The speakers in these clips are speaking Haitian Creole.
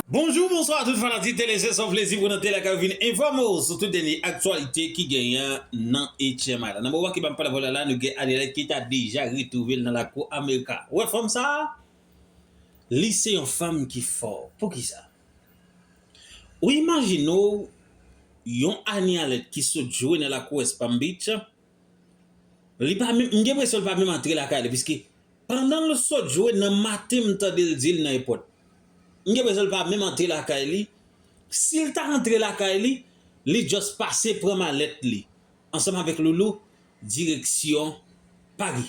Bonjou, bonswa tout fanatik tele se son plezi pou nou te lakay ou vin enfòme ou sou tout dènye aktyalite ki genyen nan etyèm ala nan moman ki banm pale avèw la la nou gen Adelait ki ta deja retwouvel nan lakou amerika ou wè fanm sa li se yon fanm ki fò poukisa ou imajine w yon Anialet ki sot jwe nan lakou west palm beach Li pa menm, m gen presyon li pa menm antre lakay li piske pandan l sot jwe nan maten m tande l di l nan èpòt. M gen presyon li pa menm antre lakay li, si l ta antre lakay li, li just pase pran malèt li ansanm avèk Loulou direksyon Pari.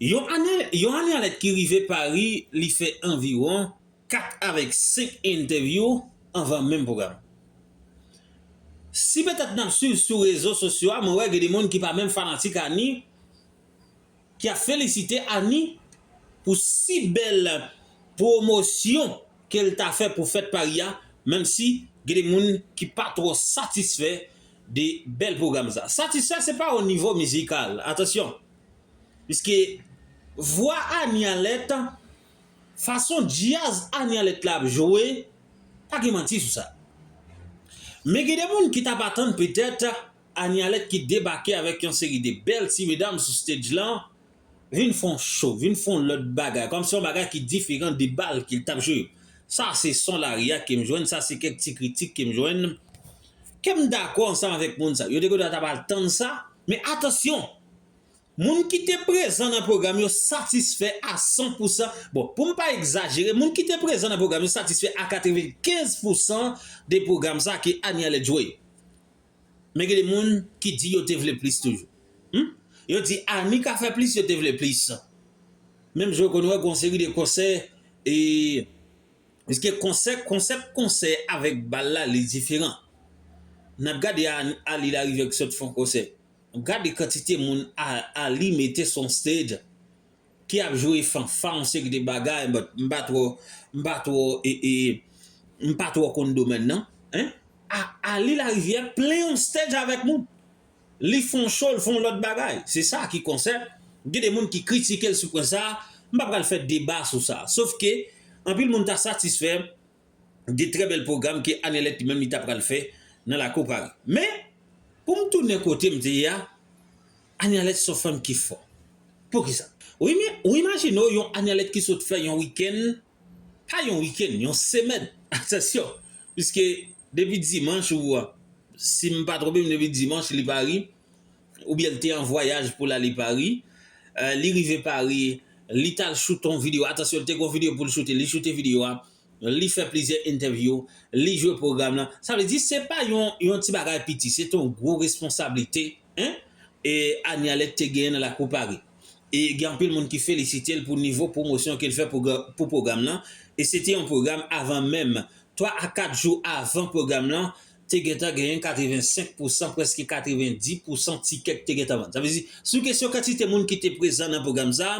Yon ane yon ane alèt ki rive Pari li fè anviwon. 4 avèk 5 entèvyou anvan menm pwogram. Si petèt nap swiv sou rezo sosyo a mwen wè gen de moun ki pa menm fanatik Annie ki ap felisite Annie pou si bèl pwomosyon kel ta fè pou fèt Paris a menm si gen de moun ki pa twò satisfè de bèl pwogram sa. Satisfè se pa o nivo mizikal atansyon piske vwa Annie a lèt Fason djaz Anyalet la ap jwe, pa gen manti sou sa. Men gen de moun ki t ap atann petèt Anyalet ki debake avèk yon seri de bèl ti medam sou stage lan vin fè yon show, vin fè yon lòt bagay, kòmsi yon bagay ki diferan de bal ke l t ap jwe yo. Sa se son lari a ke m jwenn, sa se kèk ti kritik ke m jwenn, ke m dakò ansanm avèk moun sa yo. Yo te gen dwa ta pral tann sa, men atansyon! Moun ki te prezan nan pwogram yo satisfè a 100 pousan, bon, pou m pa egzajere, moun ki te prezan nan pwogram yo satisfè a 95 pousan de pwogram sa ke Anie Alec jwe. Men gen de moun ki di yo te vle plis toujou. Hum! Yo di Anie ka fè plis, yo te vle plis. Menm jan ou konn wè gen yon seri de konsè e Piske konsè, konsèp konsè avèk bal la li diferan. N ap gade Anie Larivière ki sot fè yon konsè. Gade kantite moun Arly mete sou yon stage ki ap jwe fanfa yon seri de bagay but m pa twò m pa twò m pa twò konn domèn nan hein Arly la rivière plen yon stage avèk moun li fè yon show l fè yon lòt bagay se sa ki konsè gen de moun ki kritike l sou pwen sa m pa pral fè deba sou sa sof ke anpil moun ta satisfè de trè bèl pwogram ke Anelèt li menm li ta pral fè nan lakou Pari. Men, pou m tounen kote m te ye a, Anelèt s on fanm ki fò. Poukisa? Wi men, ou imajine w yon Anelèt ki sot fè yon wikenn, pa yon wikenn, yon semèn, atansyon, piske depi dimanch ou, si m pa twonpe m depi dimanch li Pari, oubyen l te an vwayaj pou l ale Pari, li rive Pari, li t al shoot on video, atansyon li te gen yon video pou l shoote, li shoote video a, li fè plizyè entèvyou, li jwe pwogram lan, sa vle di se pa yon ti bagay piti, se te yon gwo responsablite Anialet te genyen nan lakou Pari, e gen anpil moun ki felisite l pou nivo pwomosyon ke l fè pou pwogram lan, e se te yon pwogram avan menm, 3 a 4 jou avan pwogram lan, te gentan genyen 85 pousan, prèske 90 pousan tikè ki te gentan vann. Sa vle di, sou kesyon kantite moun ki te prezan nan pwogram sa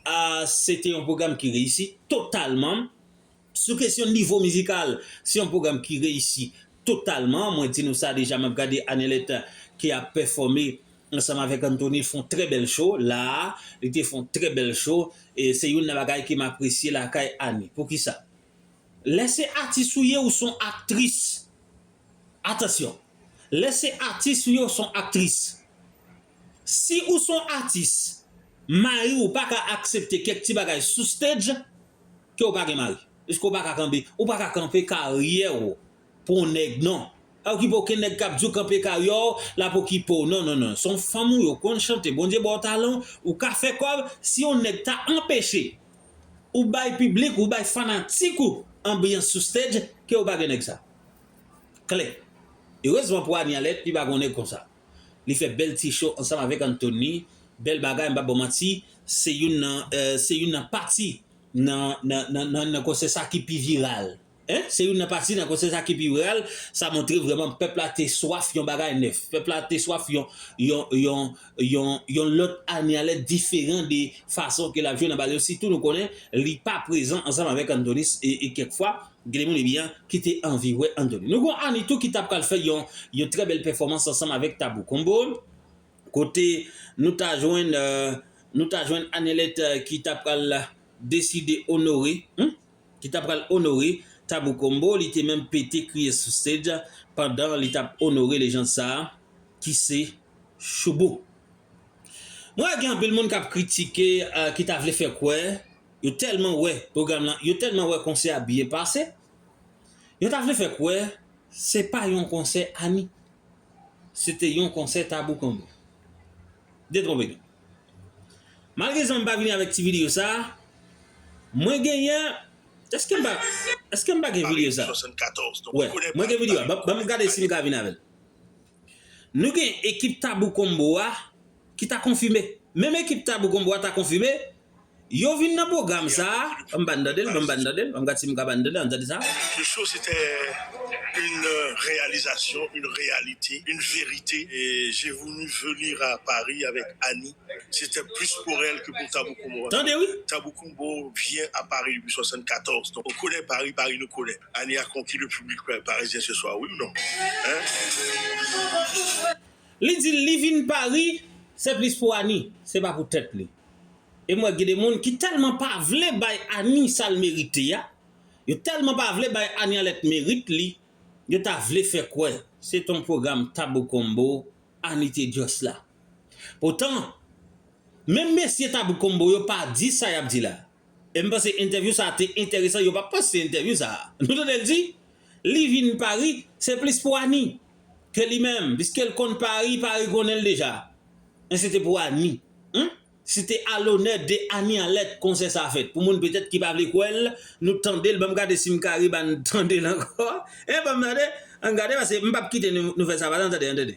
a, se te yon pwogram ki reyisi totalman. Sou kesyon nivo mizikal, se yon pwogram ki reyisi totalman. Mwen di nou sa deja, m ap gade Annelet ki ap pèfòme ansanm avèk Anthony fè yon trè bèl cho la a. Li te fè yon trè bèl cho. Se youn nan bagay ke m apresye lakay Annie. Poukisa? Lè se atis ou ye ou son aktris Atansyon Lè se atis ou ye ou son aktris Si ou son atis Mari ou paka aksepte kèk ti bagay sou stage ke ou pa gen mari Piske ou paka kanpe ou paka kanpe karyè ou pou yon nèg non. Pa okipe okenn nèg kap diw kanpe karyè w lap okipe w non non non son fanm ou yo konn chante Bondye baw talan ou ka fè kòb si yon nèg ta anpeche ou bay piblik ou bay fanatik ou anbyans sou stage kew pa gen nèg sa klè erezman pou Anialet li pa gon nèg konsa li fè bèl ti show ansanm avèk Antony bèl bagay m pap baw manti se youn nan se youn nan pati nan nan nan konsè sa ki pi viral. 1. Se youn nan pati nan konsè sa ki pi real, sa montre vrèman pèp la te swaf yon bagay nèf, pèp la te swaf yon lòt ane alèt diferan de fason ke l ap jwe nan bal yo, sitou nou konnen li pa prezan ansanm avèk Antonis e kèk fwa gen de moun e byen ki te anvi wè Antonis. Nou gon ane tou ki ta pral fè yon trè bèl pèfòmans ansanm avèk Tabou Combo, kote nou ta jwenn ane alèt ki ta pral deside onore. ki ta pral onore Tabou Combo li te menm pete kriye sou stage pandan li tap onore lejand sa ki se Shoubou. Mwen wè gen anpil moun kap kritike ki ta vle fè kwè yo tèlman wè pwogram lan yo tèlman wè konsè a byen pase yo ta vle fè kwè se pa yon konsè Annie se te yon konsè Tabou Combo. Detwonpe nou. Malgre sa m pa vini avèk ti videyo sa Mwen genyen Èske m pa Èske m pa gen videyo sa Wè Mwen gen videyo a Banm gade si m ka vin avèl Nou gen ekip Tabou Combo a Ki ta konfime Menm ekip Tabou Combo a ta konfime Yo vin nan pwogram sa a. An m ba n tande l, an m ba n tande l, an m gad si m ka ba n tande l, an n tande sa a. Ce show se te yn reyalizasyon, yn reyalite, yn verite. Je voulu venir à Paris avec Annie, se te plis pour elle ke pou Tabou Combo. Tande wi! Tabou Combo vyen a Paris depi 74, donk nou konnen Paris, Paris nou konnen. Annie a konki le public parisien ce soir, wi ou non? Hein? Li di li vin Paris, se plis pou Annie, se pa pou tèt li. e m wè gen de moun ki tèlman pa vle bay Annie sa l merite a, yo tèlman pa vle bay Annie Alette merit li, yo ta vle fè kwè se t on pwogram Tabou Combo Annie te just la. Poutan, menm mesye Tabou Combo yo pa di sa y ap di la a. E m panse entèvyou sa te enteresan yo pa panse entèvyou sa. Nou tande l di li vin Pari se plis pou Annie ke li menm piske l konn Pari, Pari konnen l deja. Men se te pou Annie. Humm si te a lonè de Annie an lèt konsè sa fèt. Pou moun petèt ki pa vle kwè l nou tande l ban m gade si m ka ribann tande l ankò. Humm ban m tande an gade paske m pap kite nou fè sa pa tande an tande.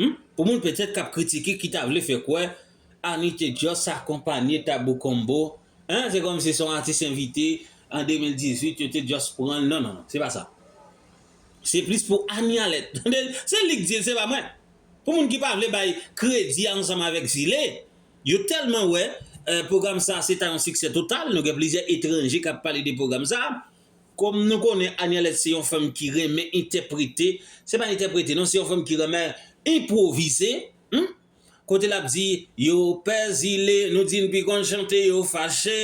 Humm pou moun petèt kap kritike ki ta vle fè kwè Annie te just akonpanye Tabou Combo hein se kòmsi se yon atis envite an 2018 yo te just pranl non non se pa sa se plis pou Annie Alèt tande se lik dil se pa mwen pou moun ki pa vle bay kredi ansanm avèk Zile yo tèlman wè pwogram sa se ta yon siksè total nou gen plizyè etranje kap pale de pwogram sa Kòm nou konnen Anielette se yon fanm ki renmen entèprete, se pa entèprete non se yon fanm ki renmen enpwovize humm kote lap di yo pè zile nou di n pi konn chante yo fache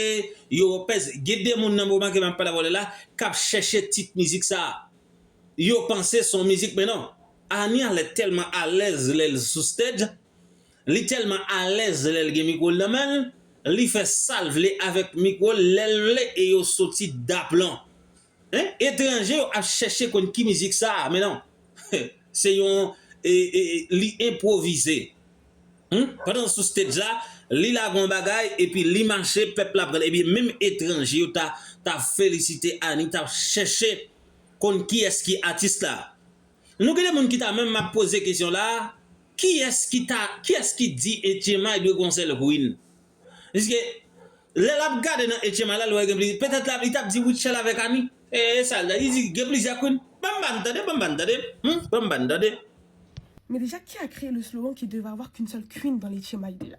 yo pè zile gen de moun nan m remake map pale avè w lè la kap chèche tit mizik sa yo panse son mizik men non Anielette tèlman alèz lèl sou stage. Li tèlman alèz lèl gen mikwo l nan men l, li fè sal vle avèk mikwo l lèl vle e yo soti daplon. Hein? Etranje yo ap chèche konn ki mizik sa a men non. Se yon e e li enpwovize. Hum? Pandan l sou stage la, li lage yon bagay epi li mache pèp la pran l ebyen menm etranje yo ta ta felisite Annie tap chèche konn kiyès ki atis la. Nou gen de moun ki ta menm map poze kesyon la a, kiyès ki ta, kiyès ki di Etchemay dwe gen yon sèl Queen? Piske lè lap gade nan Etchemay la, li wè gen plizyè, petèt li tap di Rutshelle avèk Annie, e e sa l ta di, li di gen plizyè Queen. Banm ba n tande, banm ba n tande, humm, banm ba n tande. Men deja ki ak Relus Laurent ki deva avwa qu'une seule Queen dans l'Etchemay de la?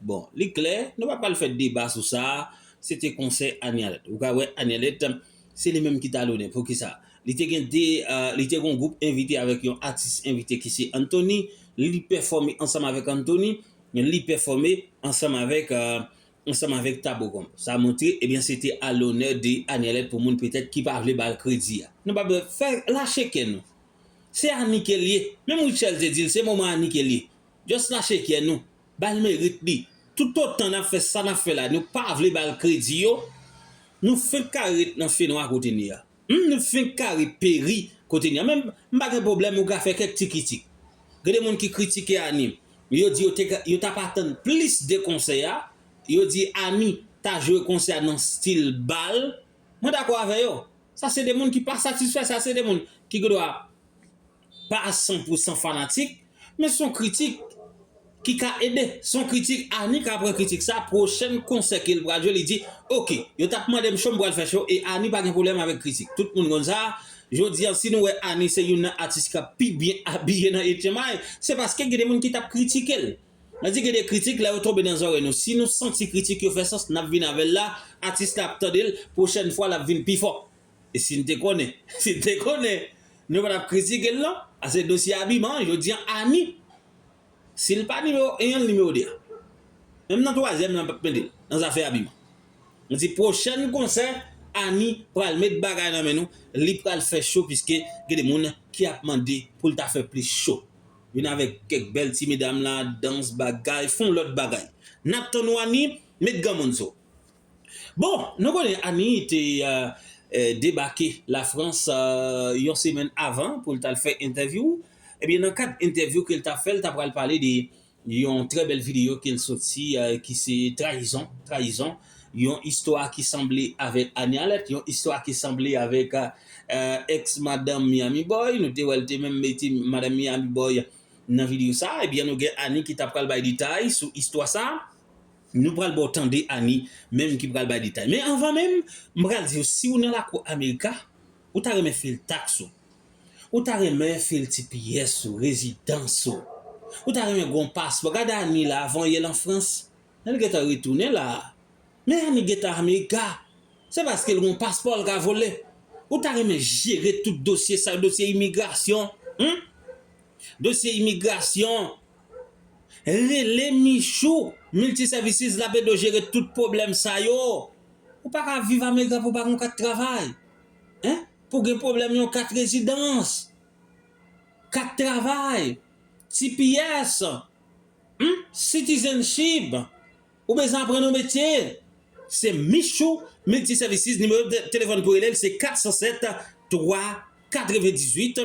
Bon, li klè, nou pa pral fè deba sou sa, se te konsèy Anialet. Ou ka wè Anialet, se li menm ki ta lonnen. Poukisa? Li te gen 2, li te gen yon gwoup envite avèk yon atis envite ki se Anthony, li pèfòme ansanm avèk Anthony, li pèfòme ansanm avèk, ansanm avèk Thabo Comp. Sa montre, ebyen se te a lonè de Anialet pou moun petèt ki pa vle ba l kredi a. Nou pa bè, fè, lache kè nou. Se Annie ke l ye. Menm Rutshelle te di l, se moman Annie ke l ye. Just lache kè nou. Bal merit li. Tout otan nap fè sa nap fè la nou pa vle bal kredi yo nou fenk ka ret nan fenwa kote nou ye a humm nou fenk ka ret peri kote nou ye a men m pa gen pwoblèm ou ka fè kèk ti kitik gen de moun ki kritike Annie yo di yo te ka yo tap atann plis de konsè a yo di Annie ta jwe konsè a nan stil bal mwen dakò avè yo sa se de moun ki pa satisfè sa se de moun ki gendwa pa san pou san fanatik, men son kritik ki ka ede, son kritik Annie ka pran kritik sa pwochèn konsè kel pral jwe li di ok yo tap mandem cho m pral fè cho e Annie pa gen pwoblèm avèk kritik tout moun konn sa, jodi an si nou wè Annie se youn nan atis kap pi byen abiye nan etchenmay se paske gen de moun ki tap kritikel mwen di gen de kritik lè yo tonbe nan zòrèy nou si nou santi kritik yo fè sans nap vin avèl la atis la ap tandel pwochèn fwa lap vin pi fò. E si n te konnen, si n te konnen, nou pa t ap kritike l non. Ase dosye abiman an, jodi an Ani, si l pa nimewo 1 an, l nimewo 2 a. Menm nan twazyèm lan m pa p mete l nan zafè abiman. M di pwochèn konsè Ani pral met bagay nan men nou, li pral fè cho piske gen de moun ki ap mande pou l ta fè plis cho. Vin avèk kèk bèl ti medam la, dans, bagay, fon lòt bagay. N ap tann ou Ani, met granmoun sou ou. Bon, nou konnen Annie te debake Lafrans yon semèn avan pou l t al fè entèvyou. Ebyen nan kad entèvyou ke l t ap fè, l ta pral pale de yon trè bèl videyo ke l soti ki se Trayizon, Trayizon, yon istwa ki sanble avèk Annie Alerte, yon istwa ki sanble avèk Eks Madanm Miami Boy. Nou te wè l te menm mete Madanm Miami Boy nan videyo sa. Ebyen nou gen Annie ki ta pral bay detay sou istwa sa. Nou pral baw tande Annie menm ki pral bay detay. Men anvan menm, m pral diw siw nan lakou America, ou ta renmen fil tax ou. Ou ta renmen fil tps ou, rezidans ou. Ou ta renmen gen yon paspò. Gade Annie la avan yè l an Frans. Lè l gentan retounen la. Men Annie gentan America. Se paske l gen yon paspò l ka vole. Ou ta renmen jere tout dosye sa yo, dosye imigrasyon, humm. Dosye imigrasyon. Rele Michou Multiservices l ap ede w jere tout pwoblèm sa yo. Ou pa ka viv America pou w pa gen yon kat travay. Hein? Pou w gen pwoblèm yon kat rezidans, kat travay, tps, humm, citizenship, ou bezwen aprann yon metye, se Michou Multiservices nimewo telefòn pou w rele l se 407 3 98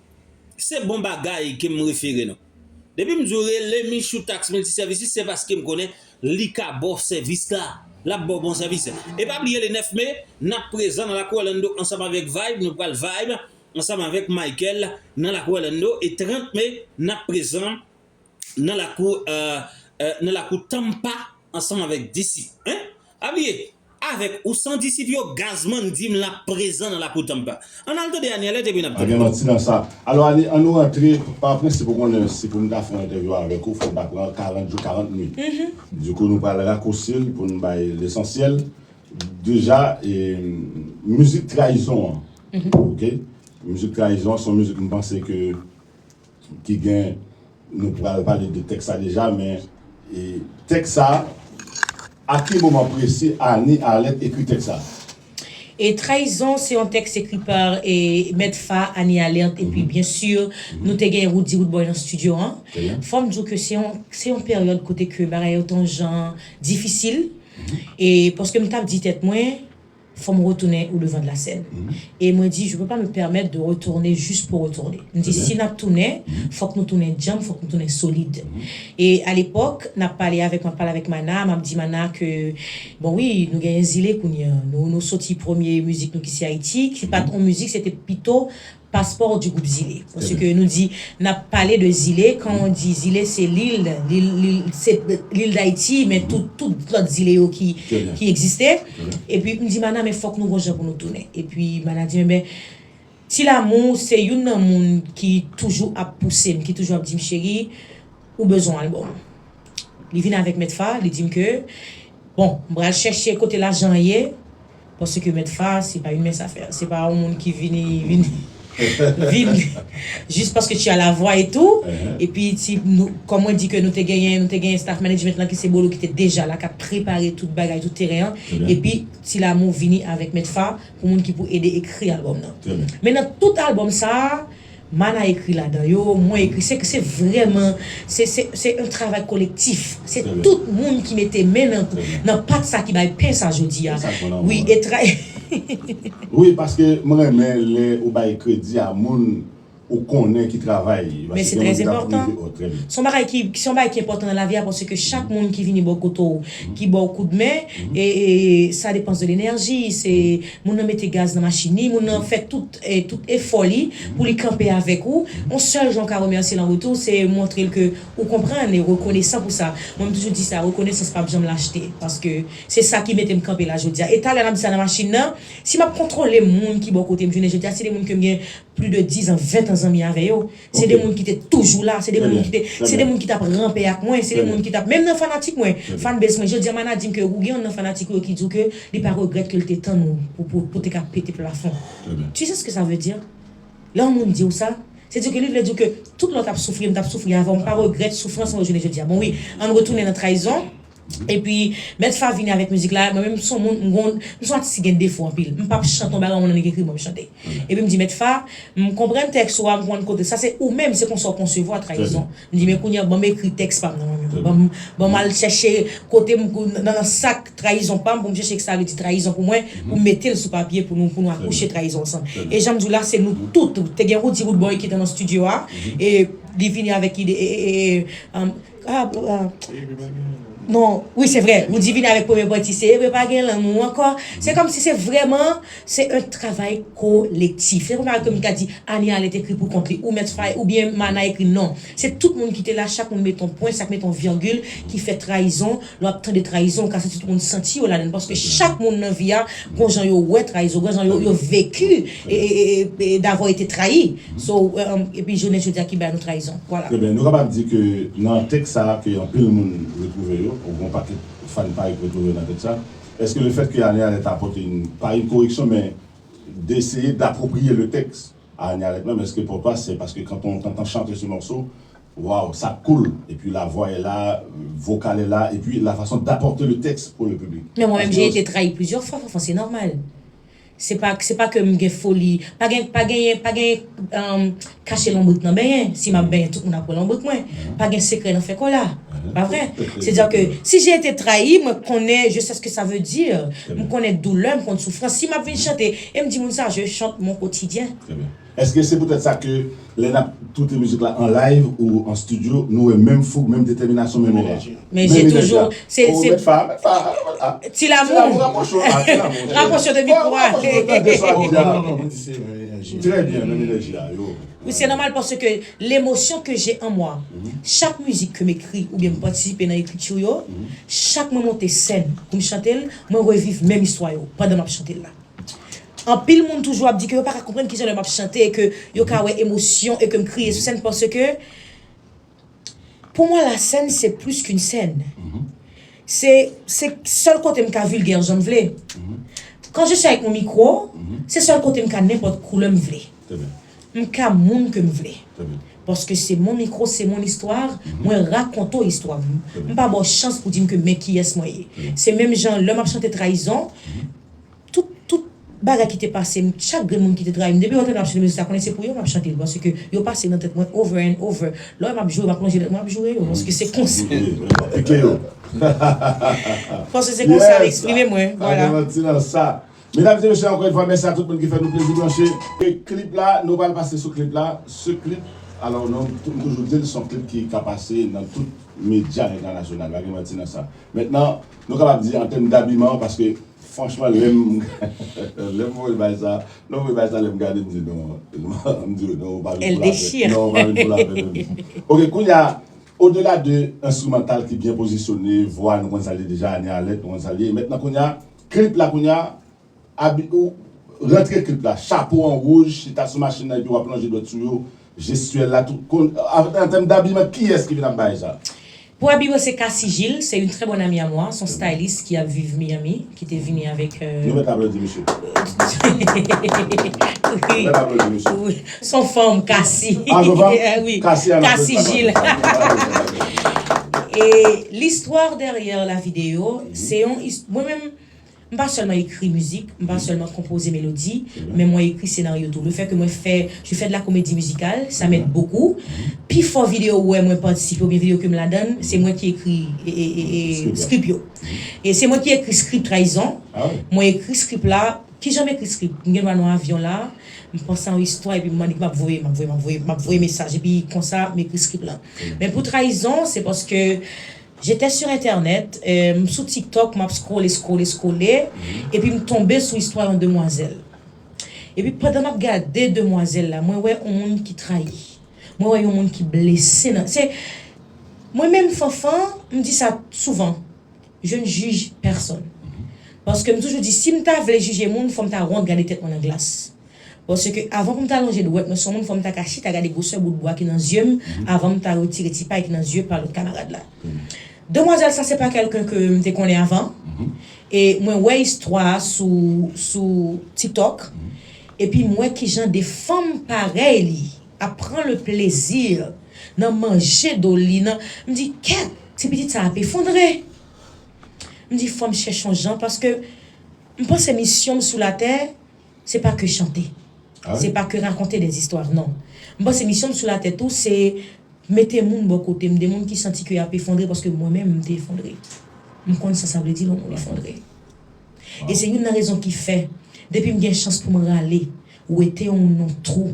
Se bon bagay ke m refere nou. Depi m di w rele Michou Tax Multi Services se paske m konnen li ka ba w sèvis la. L ap ba w bon sèvis. E pa bliye le 9 me, n ap prezan nan lakou Orlando ansanm avèk Vibe, nou pral Vibe ansanm avèk Michael nan lakou Orlando e 30 me n ap prezan nan lakou nan lakou Tampa ansanm avèk Disip. Hein? Pa bliye! Avèk ou san disip yo gazman dim lap prezan nan lakou Tampa. Ann al tande Anièlette epi nap Pa gen manti nan sa. Alò Annie, annou rantre, pa prensip ou konnen si pou m ta fè yon entèvyou avèk ou fò m ta pran 40 jou 40 nwit. Dikou nou pral rakousi l pou n bay lesansyèl. Deja mizik trayizon an ok mizik trayizon an son mizik m panse ke Ki gen, nou pral pale de tèks la deja men e tèks sa a ki moman presi Annie Arlette ekri tèks sa a? E Trayizon se yon tèks ekri pa e Mèt Fa, Annie Arlette epi byen si nou te gen Roody Roodboy nan stidyo an. Fò m di w ke se yon se yon peryòd kote ke bagay yo te yon jan difisil e paske m t ap di tèt mwen Fò m retounen au devant de la scène. E mwen di, je peux pas me permettre de retourner juste pour retourner. M di, si n ap tounen, fòk nou tounen djanm, fòk nou tounen solid. E a lepòk, n ap pale avèk, m ap pale avèk Mana, m ap di Mana ke, bon wi, nou genyen zile kounye an. Nou soti premye mizik nou ki se Ayiti, ki pa t on mizik, se te pito Passeport du groupe zile paske nou di nap pale de zile kan on di zile se lil lil dayiti men tout lòt zile yo ki egziste epi m di mana men fòk nou gon jan pou nou tounen epi mana di men ti lamou se youn nan moun ki toujou ap pouse m ki toujou ap di m cheri ou bezwen album li vin avèk mèt fa li di m ke bon m pral chèche kote lajan an ye. Paske mèt fa a se pa yon mens afè se pa yon moun ki vini vini vin jis paske tu as la voix et tout epi ti nou kòm mwen di ke nou te genyen nou te genyen staff management lan ki se Bolo ki te deja la kap prepare tout bagay tout teren an epi Ti Lamour vini avèk mèt fa pou moun ki pou ede ekri album nan men nan tout album sa a Mana ekri ladan yo, mwen ekri, se se vrèman se se se yon travay kolektif, se tout moun ki mete men nan nan pat sa ki bay pen sa jodi a wi e tra. Wi paske m renmen lè ou bay kredi a moun ou konnen ki travay Men se trè enpòtan, son bagay ki son bagay ki enpòtan nan lavi a paske chak moun ki vini bò kote w ki ba w kout men e sa depans de lenèji se moun nan mete gaz nan machin li moun nan fè tout tout efò li pou li kanpe avèk ou on sèl jan ou ka remèsye l an retou se montre l ke ou konprann e ou rekonesan pou sa mwen m toujou di sa rekonesans pap janm lachte paske se sa ki mete m kanpe la jodi a e talè n ap di sa nan machin nan si m ap kontwole moun ki bò kote m jounen jodi a se de moun ke m gen pli de dizan ventàn zanmi avè yo. Se de moun ki te toujou la, se de moun ki te, se de moun ki tap ranpe ak mwen, se de moun ki tap, menm nan fanatik mwen, fanbase mwen, jodi a Mana dim ke ou gen youn nan fanatik ou yo ki di w ke li pa regrèt ke l te tann ou pou pou pou te ka pete plafon. Tu sais ce que ça veut dire? Lè yon moun di w sa, se di w ke li vle di w ke tout lè w tap soufri, m tap soufri avè w, m pa regrèt soufrans mwen yo jounen jodi a. Bon wi, ann retounen nan trayizon. Epi mèt fa vini avèk mizik la mwen menm son moun m gon m son atis ki gen defo anpil m pap chante yon bagay yon moun annik ekri pou mwen m chante epi m di mèt fa m konprann tèks ou a m konprann kote sa se ou menm se konsa ou konsevwa trayizon m di men kounye a banm ekri tèks pam nan mwen menm banm banm al chèche kote m nan sak trayizon pam pou m chèche sa vle di trayizon pou mwen pou m mete l sou papye pou nou pou nou akouche trayizon ansanm e janm di w la se nou tout te gen Roody Roodboy ki te nan studio a e li vini avèk ide e e e Non, wi se vre, ou di vini avèk premye pati, se vre pa gen lanmou ankò, se kòm si se vrèman, se yon travay kolektif. Se kòman ke m ta di, Anie Allen t ekri pou kont li, ou mèt fay, ou byen Mana ekri, non. Se tout moun ki te la, chak moun met yon pwen, chak met yon viyongil ki fè trayizon Lè w ap tande trayizon, ou ka santi tout moun santi yo ladann paske chak moun nan vi a gon jan yo wè trayizon, gon jan yo veki davwa yo te trayi. So, epi jounen jodi a ki bay nou trayizon. Vwala. Trè byen. Nou kapab di ke nan tèks sa a ke anpil moun retwouve yo, yon bon pakèt fan pa yo ki retwouve yo nan tèks sa, èske le fèt ke Anie Alerte ta pote yon, pa yon koreksyon men deseye dapwopriye le tèks a Anie Alerte menm, èske pou ou pa se paske kanton tantan chante se mòso Waw sa cool epi la voix est là vocal est là epi la façon d'apporter le texte pour le public. Men mwen menm j'ai été trahi plusieurs fois fanfan se normal se pa se pa kem gen foli pa gen pa genyen pa genyen humm kache lonbrik nan benyen si map benyen tout moun ap wè lonbrik mwen pa gen sekrè nan fè kola pa vre se dire ke si j'ai été trahi mwen konnen je sais ce que ça veut dire m konnen doulè m konn soufrans si map vin chante em di moun sa je chante mon quotidien. Eske se poutèt sa ke lè nap toute mizik la an live ou an studio nou wè menm foug, menm detèminasyon, menm enèji? Men se toujou, se se Met fa, met fa, Ti Lamour rapwoche w la, Ti Lamour rapwoche w de mikwo a Rapwoche w tande sa wap di a Mwen di se menm enèji Trè byen, menm enèji a, yo Wi se nòmal paske lemosyon ke je an mwa chak mizik ke m ekri oubyen m patisipe nan ekriti yo chak mwen monte sèn pou m chante l mwen reviv menm istwa yo pandan map chante l la. Anpil moun toujou ap di ke yo pa ka konprann ki jan lè m ap chante e ke yo ka wè emosyon e ke m kriye sou sèn paske pou mwen lasèn se plis ke yon sèn. Se se sèl kote m ka vilgè jan m vle. Kan je si avèk yon mikwo, se sèl kote m ka nenpòt koulè m vle. M ka moun ke m vle. Paske se mon micro, se mon histoire, mwen rakonte w istwa m. M pa ba w chans pou di m ke men kiyès mwen ye. Se menm jan lè m ap chante trayizon. Tout, tout bagay ki te pase m, chak grenn moun ki te trayi m, depi yo tande m ap chante mizik sa, konnen se pou yo m ap chante l paske yo pase nan tèt mwen over and over. Lè w wè m ap joure, m ap lonje lèt mwen ap joure yo paske se konsa. Paske se konsa m eksprime mwen. Vwala. Medam e mesye, ankò yon fwa mèsi a tout moun ki fè nou plezi branche. E klip la, nou pral pase sou klip la. Ce clip, alò nou, m toujou di l, s on klip ki ka pase nan tout medya entènasyonal, pa gen manti nan sa. Mentnan, Nou kapab di an tèm dabiman paske franchman lèm lèm voye bay sa lèm voye bay sa lèm gade m di non m di yo non ou pa vin pou lapè non ou pa vin pou lapè menm ok kounya o dela de enstrimantal ki byen pozisyone vwa nou konn sa l ye deja ane alèt nou konn sa l ye mètnan kounya klip la kounya Abi ou rantre klip la chapo an wouj chita sou machin nan epi wap lonje dwèt sou yo jestyèl la tout kon an tèm dabiman kiyès ki vin ap bay sa? Pou Abi mwen se Cassy Gilles se une très bonne amie à moi son styliste ki ap viv Miami ki te vini avèk Nou mèt aplodi misye Nou mèt aplodi misye Son fanm Cassy Ah son fanm? Oui Cassy an aplodi Cassy Gilles Cassy Gilles Cassy Gilles Cassy Gilles Et l'histoire derrière la vidéo se yon his mwen menm M pa sèlman ekri mizik, m pa sèlman konpoze melodi, men mwen ekri senaryo tou. Le fè ke mwen fè je fais de la comédie musicale, ça m'aide beaucoup. Pi fò videyo ou wè mwen patisipe oubyen videyo ke m ladann, se mwen ki ekri script yo. E se mwen ki ekri script Trayizon. Mwen ekri script la, ki jan m ekri script? M gen dwa nan avyon la, m panse a yon istwa epi m mande epi m ap voye, m ap voye, m ap voye, m ap voye mesaj epi konsa m ekri script la. Men pou Trayizon, se paske J'étais sur internet, m sou tiktok map scrolle scrolle scrolle epi m tonbe sou istwa yon demwazèl. Epi pandan map gade demwazèl la mwen wè yon moun ki trayi, mwen wè yon moun ki blese nan se Mwen menm Fanfan m di sa souvan, je ne juge personne. Paske m toujou di si m ta vle jije moun fò m ta wont gade tèt mwen nan glas. Paske avan pou m ta lonje dwèt mwen sou yon moun fò m ta ka chita gade gwosè bout bwa ki nan zye m avan m ta retire ti pay ki nan zye pa lòt kamarad la. Demwazèl sa se pa kèlken ke m te konnen avan e mwen wè istwa a sou Tiktok epi m wè kijan de fanm parèy li ap pran le plezi nan manje do li nan m di kè ti pitit sa ap efondre m di fò m chèche yon jan paske m panse misyon m sou latè Se pa ke chante. Se pa ke rakonte des histoires non. M panse misyon m sou la tè tou se mete moun bò kote m, de moun ki santi ke y ap efondre paske mwen menm m te efondre. M konn sa sa vle di lè yon moun efondre. E se youn nan rezon ki fè depi m gen chans pou m rale wete yon moun nan twou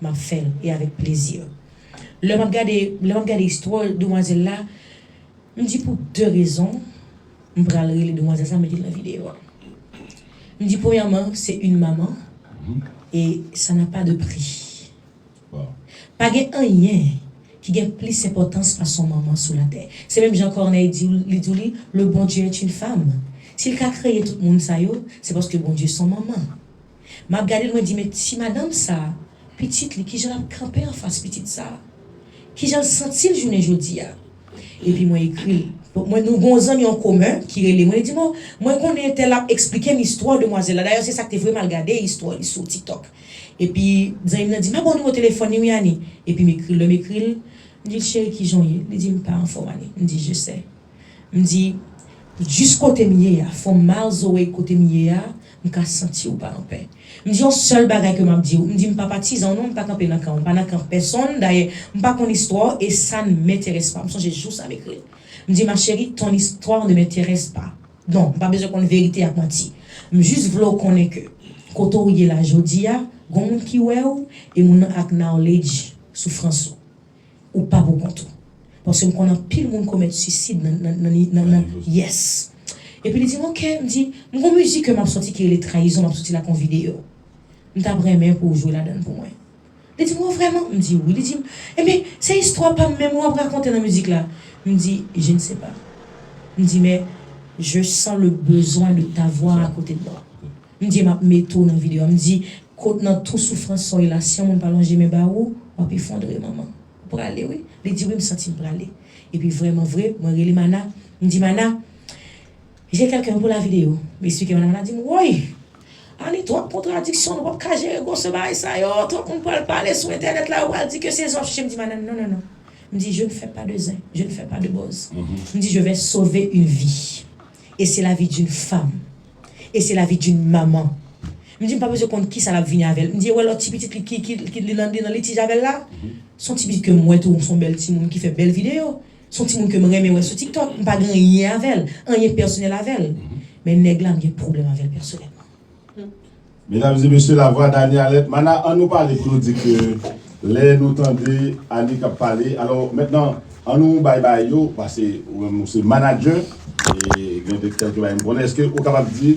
m ap fè l e avèk plezi. Lè m ap gade lè m ap gade istwa demwazèl la m di pou de rezon M pral rele demwazèl sa mete l nan video a. M di premyèman se yn manman e sa na pa de pri. Pa gen anyen ki gen plis enpòtans pase yon manman sou latè. Se menm jan Corneille di w li di w li le bon Dieu est une femme. Si l ka kreye tout moun sa yo se paske bon Dieu son manman. Map gadel mwen di men ti madanm sa pitit li kijan lap kanpe anfas pitit sa kijanl santil jounen jodia epi mwen ekril mwen nou gon zanmi an komen ki rele mwen li dim oh mwen konnen entèl lap esplikem istwa demwazèl la dayè se sak te vre mal gade istwa li sou tiktok epi zanmim nan dim ah bon nimewo telefòn li wi Annie epim ekril lèm ekril mdil cheri kijanw ye li dim mpa anfòm Annie mdi je sais mdi jis kotem ye a from miles away kotem ye a M ka santi ou pa anpè. M di yon sèl bagay ke m ap di ou, m di m pa patizan ou non, m pa kanpe nan kan ou, m pa nan kan pèsonn, dayè, m pa konn istwa ou e sa n m'intéresse pas. M sonje jou sa m ekri l. M di ma chérie, ton histoire ne m'intéresse pas. Non, m pa bezwen konn verite ak manti. M jis vle w konnen ke kote ou ye la jodi a, gon moun ki wè ou e moun nan ak knowledge soufrans ou. Ou pa pou kont ou. Paske m konn anpil moun komèt suicide nan nan nan nan nan yes. Epi li dim ok m di m gon mizik ke map sòti ki rele trayizon map sòti la kon video. M tap renmen pou ou jwe ladann pou mwen. Li dim oh vrèman m di wi li dim enben se istwa pam menm wap rakonte nan mizik la m di je ne sais pas m di men je sens le besoin de t'avoir à côté de moi Bndye map met ou nan video m di kot nan tou soufrans soy la si yon moun pa lonje men ba ou wap efondre manman ou prale wi li di wi m santim prale epi vrèman vre mwen rele mana m di mana je kelken pou lavi de yo m esplike mana mana dim woy Annie twòp kontradiksyon nou pap ka jere gwòse bagay sa yo twòp moun pral pale sou entènèt la yo pral di ke se zen wap chèche m di mana non non non m di je ne fè pa de zen je ne fè pa de bòz m di je vè sove yn vi E se lavi d'une femme. E se lavi d'une maman. M di m pa bezwen konn kisa l ap vini avè l. M di e wè lòt ti pitit li ki ki li nan li nan litij avè l la? S on ti pitit ke m wè tou, s on bèl timoun ki fè bèl videyo. S on timoun ke m renmen wè sou TikTok. M pa gen anyen avè l, anyen pèsonèl avè l. Men nèg la m gen pwoblèm avè l pèsonèlman. Medam e mesye la vwa Danie Alerte mana an nou pale pou nou di ke lè nou tande Annie kap pale alò mentnan an nou bay bagay yo pase ou menm ou se manager e gen de kelke bagay m konnen eske ou kapab di